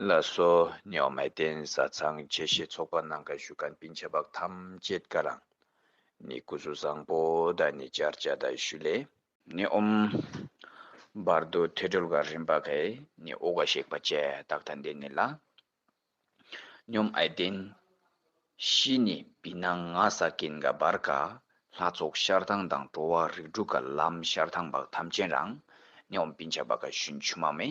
ལ་སོ་ཉོག་མའི་རྟེན་བཟའ་ཚང་བཅས་བཞེས་ཚོགས་པ་ནང་ག་ཞུ་ཀན་པིན་ཆ་བག་ཐམས་ཅད་ཀ་རང་ནི་སྐུ་གཟུགས་བཟང་པོ་དང་ནི་སྦྱར་བྱ་དང་ཞུ་ལས་ནི་འོམ། བར་དུ་ཐོད་སྦྲུལ་ག་རིམ་པ་གས་ནི་དབུ་ག་གཤེགས་པ་བཅས་དག་དང་ལྡན་ནི་ལ་སྙོམས་ཨའི་རྟེན་བཞི་ནི་བི་ན་ང་ས་ཀིན་ག་བར་ག་ལྷ་ཚོགས་ཤར་ཐང་དང་འགྲོ་བ་རིགས་དྲུག་ག་ལམ་ཤར་ཐང་བག་ཐམས་ཅན་རང་ནི་འོམ་པིན་ཆ་བག་ག་ཞུན་ཆུ་མ་མེ།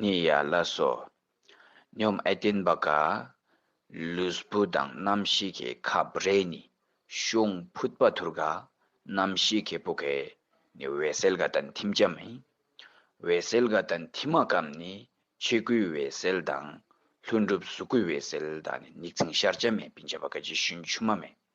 ནི་ཡ་ལ་སོ། སྙོམས་ཨེ་བརྟེན་པ་ག། ལུས་བུ་དང་རྣམ་ཤེས་ཀྱི་ཁ་རེ་ནི་ཤོང་ཕུད་པ་དུར་ག་རྣམ་ཤེས་ཀྱི་བུ་གས་ནི་འོད་གསལ་ག་དང་ཐིམ་བྱ་མི། འོད་གསལ་ག་དང་ཐིམ་མ་གམ་ནི་ཆོས་སྐུའི་འོད་གསལ་དང་ལྷུན་གྲུབ་གཟུགས་སྐུའི་འོད་གསལ་དང་ནི་ནི་རྩིང་ཤར་བྱ་མེད་བིང་བྱ་བ་ག་རྗེས་ཤུན་ཆུ་མ་མེད།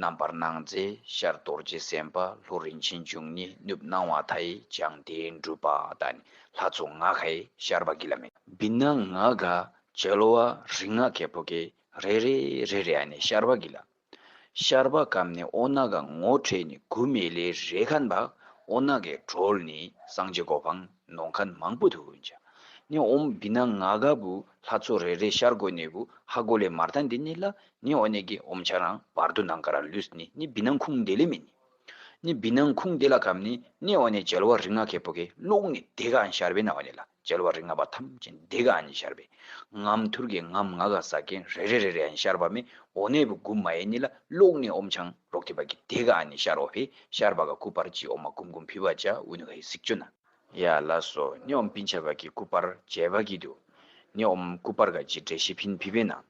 རྣམ་པར་སྣང་མཛད་ཤར་རྡོ་རྗེ་སེམས་དཔའ་ལྷོ་རིན་ཆེན་འབྱུང་གཉིས་གནུབས་སྣང་བ་དྷཱི་ལྗང་སྡེའི་འགྲུབ་པ་དང་ནི་ལྷ་ཚོགས་ལྔ་ཁའི་ཤར་བ་གི་ལ་མེ། བི་ན་ང་ག་བྱེ་ལོ་བ་རིག་སྔགས་ཁའི་བུ་གའི་རེ་རེ་རེ་རེ་ཨ་ནི་ཤར་བ་གི་ལ། ཤར་བ་གམ་ནི་ཨོ་ན་ག་ངོ་འཕྲད་ནི་གུ་མེ་ལའི་རེ་ཁཱན་བ་ཨོ་ན་གའི་གྲོལ་ནི་སངས་རྒྱས་གོ་འཕང་ནོངས་ཁཱན་མང་པོ་དུ་འཇའ་ནི་ཨོམ་བི་ན་ང་ག་བུ་ལྷ་ཚོགས་རེ་རེ་ཤར་སྒོ་ནས་བུ་ཧ་གོ་ལའི་མར་དང་འདི་ནི་ལ་ནི་འོ་ནེ་གི་འོམ་ཆ་རང་བར་དུ་ནང་ཀ་ར་ལུས་ནི་ནི་བི་ནང་ཁུང་དེ་ལས་མི་ནི་ནི་བི་ནང་ཁུང་དེ་ལ་གམ་ནི་ནི་འོ་ནེ་ཇལ་བ་རིག་སྔགས་ཁེ་པོ་ཁེ་ལུགས་ནི་དེ་ག་ཨན་ཤར་བས་ན་འོ་ནེ་ལ་ཇལ་བ་རིག་སྔགས་པ་ཐམས་ཅད་ནི་དེ་ག་ཨན་ནི་ཤར་བས་ངམ་ཐུར་གེ་ངམ་ང་ག་ས་གན་རེ་རེ་རེ་རེ་ཨན་ཤར་བ་མེ་འོ་ནེ་བུ་གུ་མ་ཡེ་ནི་ལ་ལུགས་ནི་འོམ་ཆང་རོག་ཐི་བ་གི་དེ་ག་ཨན་ནི་ཤར་བ་བས་ཤར་བ་ག་གུ་བར་ཅི་འོ་མ་གུམ་གུམ་བི་བ་ཅ་འུ་ནུ་ཧེ་སིག་ཅོ་ན་ཡ་ལ་སོ་ནི་འོམ་བི་འཆ་བ་གི་གུ་བར་ཇལ་བ་གི་དུ་ནི་འོམ་གུ་བར་ག་ཅི་འདྲེ་ཤི་བིན་བི་བས་ན།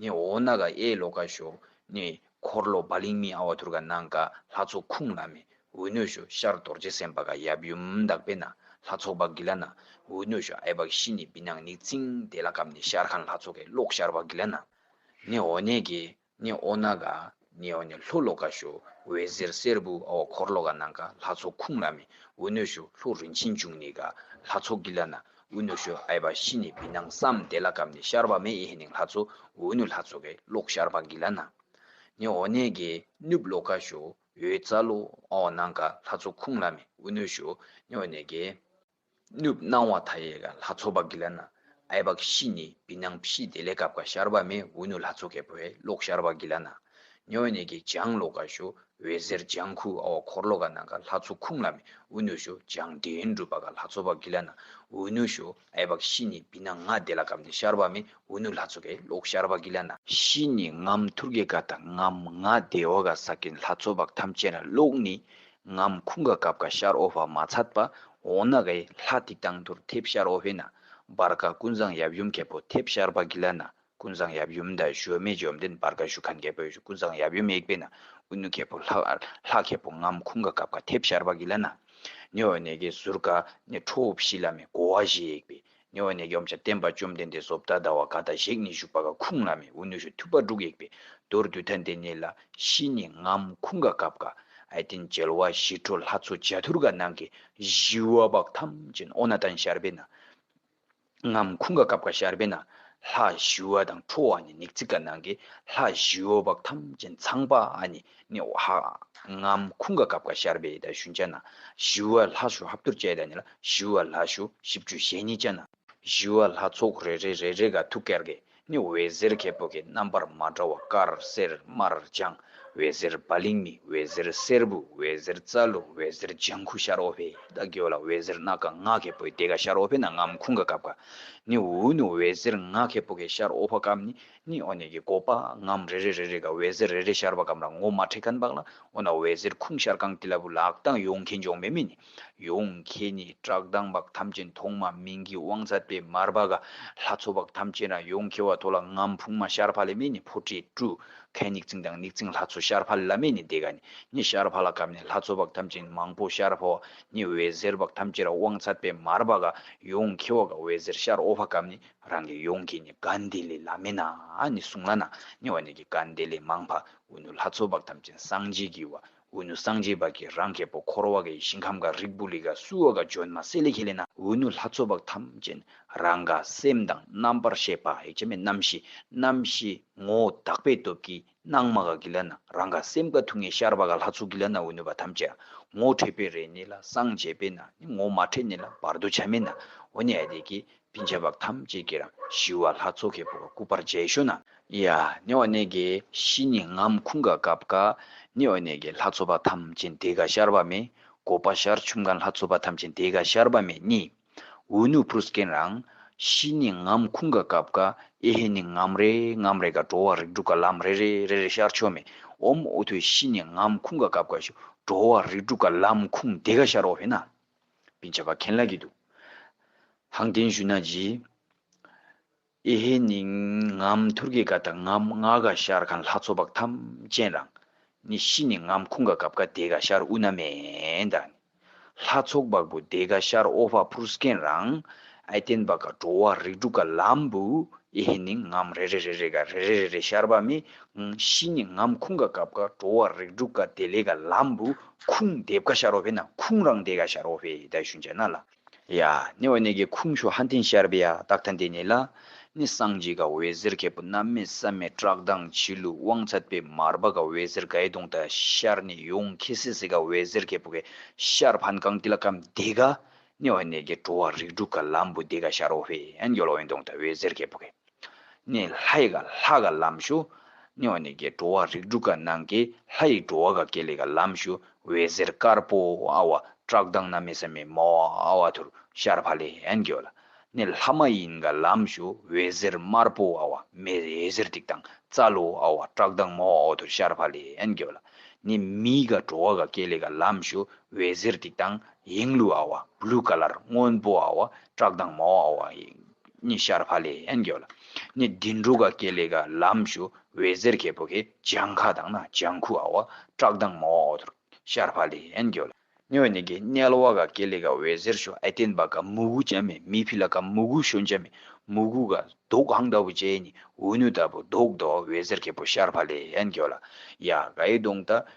ནི་འོ་ན་ག་ཨེ་ལོ་ཀ་ཤོ། ནི་འཁོར་ལོ་བ་ལིང་མི་ཨ་བ་དྷུར་ག་ནང་ག་ལྷ་ཚོགས་ཁུངས་ལ་མི་འུ་ནོས་ཤོ་ཤར་རྡོར་རྗེ་སེམས་དཔའ་ག་ཡབ་ཡུམ་དག་པའི་ན་ལྷ་ཚོགས་བ་གི་ལ་ནང་འུ་ནོས་ཤོ་ཨེ་བ་ཤི་ནི་བི་ནང་ནི་ཙིང་དེ་ལ་གམ་ནི་ཤར་ཁང་ལྷ་ཚོགས་གའི་གློག་ཤར་བ་གི་ལ་ནང་ནི་འོ་ནས་གི་ནི་འོ་ན་ག་ནི་འོ་ནི་ལྷོ་ལོ་ཀ་ཞོ་འོད་ཟེར་སེར་བུ་ཨོ་འཁོར་ལོ་ཀ་ནང་ཀ་ལྷ་ཚོགས་ཁུང་ལ་མི་འོ་སྣོད་ཞོ་ལྷོ་རིན་ཆེན་འབྱུང་ནི་ཀ་ལྷ་ཚོགས་ཀི་ལ་ན་འོ་སྣོད་ཞོ་ཨེ་བ་ཤི་ནི་བི་ནང་བསམ་བདེ་ལ་ཀམ་ནི་ཤར་བ་མེ་ཨེ་ནིང་ལྷ་ཚོགས་འོ་སྣོད་ལྷ་ཚོགས་ཀེ་ལོག་ཤར་བ་ཀི་ལ་ན་ནི་འོ་ནེ་ཀེ་ནུབ་ལོ་ཀ་ཞོ་འོད་རྩ་ལོ་ཨོ་ནང་ཀ་ལྷ་ཚོགས་ཁུང་ལ་མི་འོ་སྣོད་ཞོ་ནི་འོ་ནེ་ཀེ། ནུབ་སྣང་བ་དྷ་ཡེ་ག་ལྷ་ཚོགས་པ་གི་ལ་ན་ཨའི་བ་ཀི་ཤི་ནི་བི་སྣང་བི་ཤི་དེ་ལས་ཀ་བ་ཀ་ཤར་བ་མེ་བྷུ་ནུ་ལྷ་ཚོགས་ཀའི་བྷེ་ལོག་ཤར་བ་གི་ལ་ན་ཉོ་བ་ནེ་ཀའི་བྱང་ལོ་ཀ་ཤོ་བྷེ་ཟེར་བྱང་ཁུ་ཨ་བ་འཁོར་ལོ་ཀ་ནང་ཀ་ལྷ་ཚོགས་ཁུང་ལ་མེ་བྷུ་ནུ་ཤོ་བྱང་དྲན་སྒྲུབ་པ་ཀ་ལྷ་ཚོགས་པ་གི་ལ་ན་བྷུ་ནུ་ཤོ་ཨའི་བ་ཀི་ཤི་ནི་བི་སྣང་ང་དེ་ལ་ཀ་མནི་ཤར་བ་མེ་བྷུ་ནུ་ལྷ་ཚོགས་ཀའི་ལོག་ཤར་བ་གི་ལ་ན། ཤི་ནི་ངམ་ཐུར་ཀའི་ཀ་དང་ངམ་ང་དེ་བ་ཀ་ས་ཀན་ལྷ་ཚོགས་པ་ཀ་ཐམས་ཅད་ལ་ལོག་ནི་ངམ་ཁུང་ག་གབ་ག་ཤར་ཨོ་བྷ་མ་ཚད་པ་འོ་ན་གའི་ལྷ་ཐིག་དང་དུར་ཐེབས་ཤར་ཨོ་བྷེ་ན་བར་ག་ཀུན་བཟང་ཡབ་ཡུམ་གལ་པོ་ཐེབས་ཤར་བ་གི་ལ་ན་ཀུན་བཟང་ཡབ་ཡུམ་དང་བཞོ་མེ་བཅོམ་ལྡན་བར་ག་ཞུ་ཁན་གལ་པོ་ཀུན་བཟང་ཡབ་ཡུམ་ཡེག་པེ་ན་ཨུ་ནུ་གལ་པོ་ལྷ་གལ་པོ་ངམ་ཁུང་ག་གབ་ག་ཐེབས་ཤར་བ་གི་ལ་ན་ནེ་ཨོ་ནེ་གའི་ཟུར་ག་ནས་ཁྲོ་བོ་བཞི་ལ་མེ་གོ་བ་བཞི་ཡེག་པེ་ཉེ་བ་ནས་ཡུམ་བྱ་བསྟན་པ་བཅོམ་ལྡན་འདས་ཟོབ་ད་ད་བ་ག་དང་གཞེག་ནི་བཞུགས་པ་ག་ཁུང་ལ་མེ་འུ་ནུ་ཞུ་ཐུ་པ་དྲུག་ཡེག་པའི་མདོར་བསྡུས་ཐ་འདི་ནི་ལ་ཤི་ནི་ངམ་ཁུང་ག་གབ་ག་ཨའི་ཏིན་འཇལ་བ་ཞི་ཁྲོ་ལྷ་ཚོ་བྱ་ཐུར་ག་ནང་གི་བཞི་བ་བག་ཐམ་ཅན་ཨོ་ན་ཏན་ཤར་པའི་ན་ངམ་ཁུང་ག་གབ་ག་ཤར་པའི་ན་ལྷ་བཞི་བ་དང་ཁྲོ་བ་ནི་ནིག་ཙིག་ག་ནང་གི་ལྷ་བཞི་བ་བག་ཐམ་ཅན་ཚངས་པ་ཨ་ནི་ནི་འོ་ཧ། ངམ་ཁུང་ག་གབ་ཀ་ཤར་བའི་ད་ཞུན་ཅན་ན། ཞི་བ་ལྷ་ཞུ་ཧབ་ཏུར་བཅས་ད་ནི་ལ་ཞི་བ་ལྷ་ཞུ་ཞིབ་ཅུ་ཞེ་གཉིས་ཅན་ན། ཞི་བ་ལྷ་ཚོགས་རེ་རེ་རེ་རེ་ག་ཐུག་ཀལ་གས་ནི་འོད་ཟེར་ཁལ་བུ་གའི་རྣམ་པར་མ་འདྲ་བ་དཀར་སེར་དམར་ལྗང་འོད་ཟེར་བ་ལིང་མི་འོད་ཟེར་སེར་བུ་འོད་ཟེར་རྩ་ལུ་འོད་ཟེར་ལྗང་ཁུ་ཤར་འོ་བྷེ་ད་གོས་ལ་འོད་ཟེར་སྣ་ཀ་ང་ཁལ་བུའི་དེ་ག་ཤར་འོ་བྷེ་ན་ངམ་ཁུང་ག་གབ་ཀ་ནི་འུ་ནི་འོད་ཟེར་ང་ཁལ་བུ་གའི་ཤར་འོ་བྷ་གམ་ནི། ནི་འོ་ནས་ཀྱི་སྒོ་པའངམ་རེ་རེ་རེ་རེ་ག་འོད་ཟེར་རེ་རེ་ཤར་བ་གམ་ར་ངོ་མ་ཁྲེ་ཁཱན་བག་ལ་འོ་ན་འོད་ཟེར་ཁུང་ཤར་གང་ཏི་ལ་བུ་ལག་དང་ཡུང་ཁེ་འཇོག་མེ་མེ་ནི་ཡུང་ཁེ་ནི་བཀྲག་མདངས་བག་ཐམས་ཅན་མཐོང་མ་མིང་གི་དབང་རྩ་དེ་མར་བ་ག་ལྷ་མཚོ་བག་ཐམས་ཅན་ར་ཡུང་ཁེ་བ་ཐོ་ལ་ངམ་ཕུང་མ་ཤར་བྷ་ལེ་མེ་ནི་ཕོ་ཏྲི་ཀྲུ་ཁཱན་ནིག་ཙིང་དང་ནིག་ཙིང་ལྷ་མཚོ་ཤར་བྷ་ལེ་ལ་མེ་ནི་དེ་ག་ནི་ནི་ཤར་བྷ་ལ་གམ་ནི་ལྷ་མཚོ་བག་ཐམས་ཅན་མང་པོ་ཤར་བྷ་བ་ནི་འོད་ཟེར་བག་ཐམས་ཅན་ར་དབང་རྩ་དཔེ་མར་བ་ག་ཡུང་ཁེ་བ་ག་འོད་ཟེར་ཤར་ཨོ་བྷ་གམ་ནི་རང་གི་ཡོངས་ཀྱི་ནི་གཱ་འདི་ལས་ལ་མེ་ན་ནི་གཟུང་ལ་ན་ནི་བ་ནི་གི་གཱ་འདི་ལས་མང་བ་འུ་ནུ་ལྷ་ཚོགས་བག་ཐམས་ཅད་སངས་རྒྱས་ཀྱི་བ་འུ་ནུ་སངས་རྒྱས་བག་གི་རང་གེ་པོ་འཁོར་བ་གའི་ཞིང་ཁམས་གཱ་རིག་པུ་རིག་གཱ་སུ་བ་གཱ་ཇོན་མ་སེ་ལེ་ཁེ་ལེ་ན། འུ་ནུ་ལྷ་ཚོགས་བག་ཐམས་ཅད་རང་ག་སེམས་དང་རྣམ་པར་ཤེས་པ་ཧེ་བྱ་མེད་རྣམ་ཤེས་རྣམ་ཤེས་ངོ་བོ་དག་པའི་སྟོབས་ཀྱིས་སྣང་མ་ག་གི་ལ་ན་རང་ག་སེམས་ག་ཐུག་ངེ་ཤར་བ་ག་ལྷ་ཚུགས་གི་ལ་ན་འོད་ནུས་པ་ཐམས་ཅད་ངོ་འཕྲད་པའི་རེ་ནི་ལ་སངས་རྒྱས་པས་ན་ནི་ངོ་མ་འཕྲད་ནི་ལ་བར་དོ་བྱ་མེད་ན་འོ་ནི་ཨ་དེ་གི་བིན་ཆ་བབ་ཐམས་ཅད་ཀྱི་རང་ཞི་བ་ལྷ་ཚོགས་ཁེ་པོ་ག་སྐུ་པར་འཇལ་ཤོ་ན། ཡ་ནི་འོ་ནི་གི་ཤི་ནི་ངམ་ཁུང་ག་སྐབས་ག་ནི་འོ་ནི་གི་ལྷ་ཚོགས་པ་ཐམས་ཅད་འདི་ག་ཤར་བ་མེད་གོ་པ་ཤར་ཆུམ་ག་ལྷ་ཚོགས་པ་ཐམས་ཅད་འདི་ག་ཤར་བ་མེད་གཉིས། འུ་ནུ་བུ་སྐན་རང། ཤི་ནི་ངམ་ཁུང་ག་གབ་ག་ཨེ་ཧེ་ནི་ངམ་རེ་ངམ་རེ་ག་འགྲོ་བ་རིག་འགྲུ་ག་ལམ་རེ་རེ་རེ་རེ་ཤར་ཆོ་མེ་འོམ་འུ་ཐུ་ཤི་ནི་ངམ་ཁུང་ག་གབ་ག་ཤུ་འགྲོ་བ་རིག་འགྲུ་ག་ལམ་ཁུང་དེ་ག་ཤར་འོ་བྷེ་ན། བིན་ཆ་བ་ཁན་ལ་གི་དུ། ཧང་ཏན་ཞུ་ན་ཇི། ཨེ་ཧེ་ནི་ངམ་ཐུར་གེ་ག་དང་ངམ་རྔ་ག་ཤར་གང་ལྷ་ཚོགས་བག་ཐམས་ཅན་རང་ནི་ཤི་ནི་ངམ་ཁུང་ག་གབ་ག་དེ་ག་ཤར་ཨུ་ན་མེ་དང་ནི་ལྷ་ཚོགས་བག་བུ་དེ་ག་ཤར་ཨོ་བྷ་བྷུར་སྐན་རང་ཨེ་བརྟན་བག་ག་འགྲོ་བ་རིགས་དྲུག་ག་ལམ་བུ་ཨེ་ཧེ་ནི་ངམ་རེ་རེ་རེ་རེ་ག་རེ་རེ་རེ་རེ་ཤར་བ་མི་ཤི་ནི་ངམ་ཁུང་ག་གབ་ག་འགྲོ་བ་རིགས་དྲུག་ག་དེ་ལས་ག་ལམ་བུ་ཁུང་འདེབས་ག་ཤར་ཨོ་བྷེ་ན་ཁུང་རང་དེ་ག་ཤར་ཨོ་བྷེ་ད་ཞུན་ཅན་ན་ལ། ཡ། ནི་འོད་ནི་གི་ཁུང་ཤོ་ཧ་འཐེན་ཤར་བི་ཡ་རྟགས་ཐན་དེ་ནི་ལ། ནི་སངས་རྒྱས་ག་འོད་ཟེར་ཁད་པོ་རྣམ་མེད་བསམ་མེད་བཀྲག་མདངས་བྱི་ལུ་དབང་ཚད་པའི་མར་པ་ག་འོད་ཟེར་གའི་དུང་ད་ཤར་ནི་ཡུང་ཁི་སི་སི་ག་འོད་ཟེར་ཁད་པོ་གའི་ཤར་ཕན་གང་ཏི་ལ་ཀམ་དེ་ག། ནི་འོད་ནི་གི་བྲོ་བ་རིགས་དྲུག་ག་ལམ་བུ་དེ་ག་ཤར་འོ་བྷི་ཡན་གྱོ་ལོ་ཡན་དུང་ད་འོད་ཟེར་ཁད་པོ་གའི། ནས་ལྷ་ཡི་ག་ལྷ་ག་ལམ་ཞུ། སྨྱོ་ནས་གའི་འགྲོ་བ་རིགས་དྲུག་ག་ནང་གའི་ལྷ་ཡི་འགྲོ་བ་ག་གེ་ལས་ག་ལམ་ཞུ། འོད་ཟེར་དཀར་པོ་ཨ་བ་བཀྲག་མདངས་ན་མེ་ས་མེ་མ་བ་ཨ་བ་དྷུར་ཤར་བྷ་ལེ་ཧན་གོ་ལ། ནས་ལྷ་མ་ཡིན་ག་ལམ་ཞུ། འོད་ཟེར་དམར་པོ་ཨ་བ་མེ་འོད་ཟེར་ཏིག་དང་རྩ་ལོ་ཨ་བ་བཀྲག་མདངས་མ་བ་ཨོ་དྷུར་ཤར་བྷ་ལེ་ཧན་གོ་ལ། ནས་མི་ཡི་ག་འགྲོ་བ་ག་གེ་ལས་ག་ལམ་ཞུ། འོད་ཟེར་ཏིག་དང་ཡེངས་ལུ་ཨ་བ Blue Color སྔོན་པོ་ཨ་བ་བཀྲག་མདངས་མ་བ་ཨོ་བ་ནི་ཤར་བྷ་ལའི་ཡན་གྱོ་ལ་ནི་བདུན་དྲུག་ག་གེ་ལེ་ག་ལམ་ཞུ་བའི་གཟེར་ཁའི་བུ་གའི་ལྗང་ཁ་དང་ན་ལྗང་ཁུ་ཨ་བ་བཀྲག་མདངས་མ་བ་འོ་དུར་ཤར་བྷ་ལའི་ཡན་གྱོ་ལ་ནི་བ་ནི་གའི་མཎྜལ་བ་ག་གེ་ལེ་ག་བའི་གཟེར་ཞོ་ཨེ་བསྟན་པ་ག་མུ་གུ་ཅན་མའི་མི་ཕི་ལ་ག་མུ་གུའི་ཞོ་འཇམ་མའི་མུ་གུ་ག་དུག་གང་ལྟ་བུ་ཅན་ནི་འུ་ནུ་ལྟ་བུ་དུག་ལྟོ་བའི་གཟེར་ཁའི་བུ་ཤར་བྷ་ལའི་ཡན་གྱོ་ལ་ཡ་གའི་དུང་ལྟ་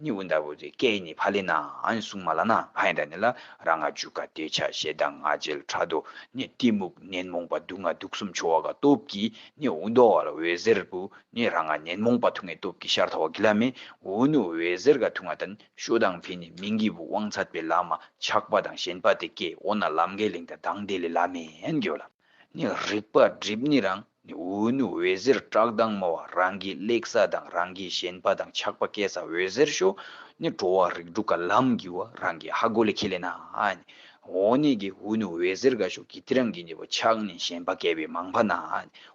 ནི་འུ་འདར་བུ་དེ་སྐད་ནི་བྷ་ལི་ནའང་གསུང་མ་ལ་ན་བྷ་ཡན་དར་ནི་ལ་ར་ང་ཇུ་ཀ་ཏའི་ཆ་ཤས་དང་ང་འཇལ་བྲ་དོ་ནི་གཏི་མུག་ནན་མོངས་པ་དུག་ལྔ་དུག་གསུམ་འཆོ་བ་ཀ་སྟོབས་ཀྱིས་ནི་འུ་འདོ་བ་ལ་འོད་ཟེར་བུ་ནི་ར་ང་ནན་མོངས་པ་དུག་ལྔའི་སྟོབས་ཀྱིས་ཤར་ཐ་བ་གི་ལ་མི་འུ་ནི་འོད་ཟེར་ཀ་དུག་ལྔ་དང་ཤོ་དང་བྷི་ནི་མིང་གི་བུ་དབང་ཚད་པའི་ལ་མ་ཆགས་པ་དང་ཞེན་པ་དེ་སྐད་འོ་ན་ལམ་གའི་ལིང་དང་དང་དེ་ལས་ལ་མེ་ཡན་གྱོ་ལ་ནི་རིག་པ་སྒྲིབ་ནི་རང། འུན་འོད་ཟེར་བཀྲག་མདངས་མོ། རང་གི་གླེགས་ས་དང་རང་གི་བཞེངས་པ་དང་ཆགས་པ་སྐད་ས་འོད་ཟེར་ཤོ། ནི་འགྲོ་བ་རིགས་དྲུག་ག་ལམ་བགྱི་བ་རང་གི་ཧ་གོ་ལས་ཁེ་ལས་ན། འོ་ནི་གི་འུན་འོད་ཟེར་ག་ཤོ་གི་ཏི་རང་གི་ནི་བ་ཆགས་ནི་བཞེངས་པ་སྐལ་བའི་མང་པ་ན།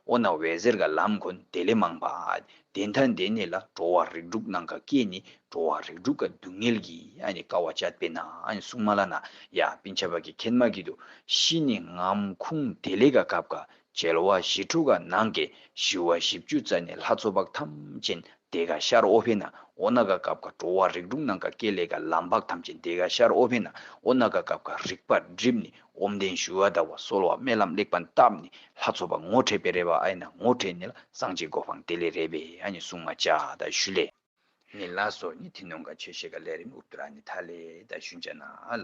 འོ་ན་འོད་ཟེར་ག་ལམ་གོ་ནི་དེ་ལས་མང་པ། དེ་མཐའ་འདས་ནི་ལ་འགྲོ་བ་རིགས་དྲུག་ནང་ག་སྐད་ནི་འགྲོ་བ་རིགས་དྲུག་ག་སྡུག་བསྔལ་བགྱི་ནི་ཀ་བ་ཅད་པས་ན་སྲུང་མ་ལ་ན། ཡ་པི་འཆལ་པ་གི་ཁྱད་མ་གི་དུ་ཤི་ནི་ངམ་ཁུང་དེ་ལས་ག་གབ་ག་བྱེར་བ་བཞི་དྲུག་ག་ནང་གི་བཞི་བ་བཞི་བཅུ་རྩ་ནི་ལྷ་མཚོ་འབག་ཐམས་ཅད་འདས་ག་ཤར་ཨོ་བྷེ་ན་ཨོ་ན་ག་གབ་ག་འགྲོ་བ་རིགས་དྲུག་ནང་ག་སྐེ་ལས་ག་ལམ་འབག་ཐམས་ཅད་འདས་ག་ཤར་ཨོ་བྷེ་ན་ཨོ་ན་ག་གབ་ག་རིག་པ་སྒྲིབ་ནི་ཨོམ་ལྡན་ཞུ་བ་ཟླ་བ་གསོལ་བ་སྨེ་ལམ་གླེགས་བམ་བཏབ་ནི་ལྷ་མཚོ་འབག་ངོ་འཕྲད་པའི་རེ་བ་ཨ་ཡེ་ན་ངོ་འཕྲད་ནི་ལ་སངས་རྒྱས་སྒོ་འཕང་དེ་ལས་རེ་བའི་ཨ་ནི་སྲུང་མ་བྱ་ད་ཞུ་ལས། ནི་ལ་སོགས་ནི་ཐི་ནོང་ག་ཆོས་བཤད་ག་ལས་རིམ་ཨུ་བསྟུ་ར་ནི་ཐ་ལས་ད་ཞུ་འཇ་ན་ལ།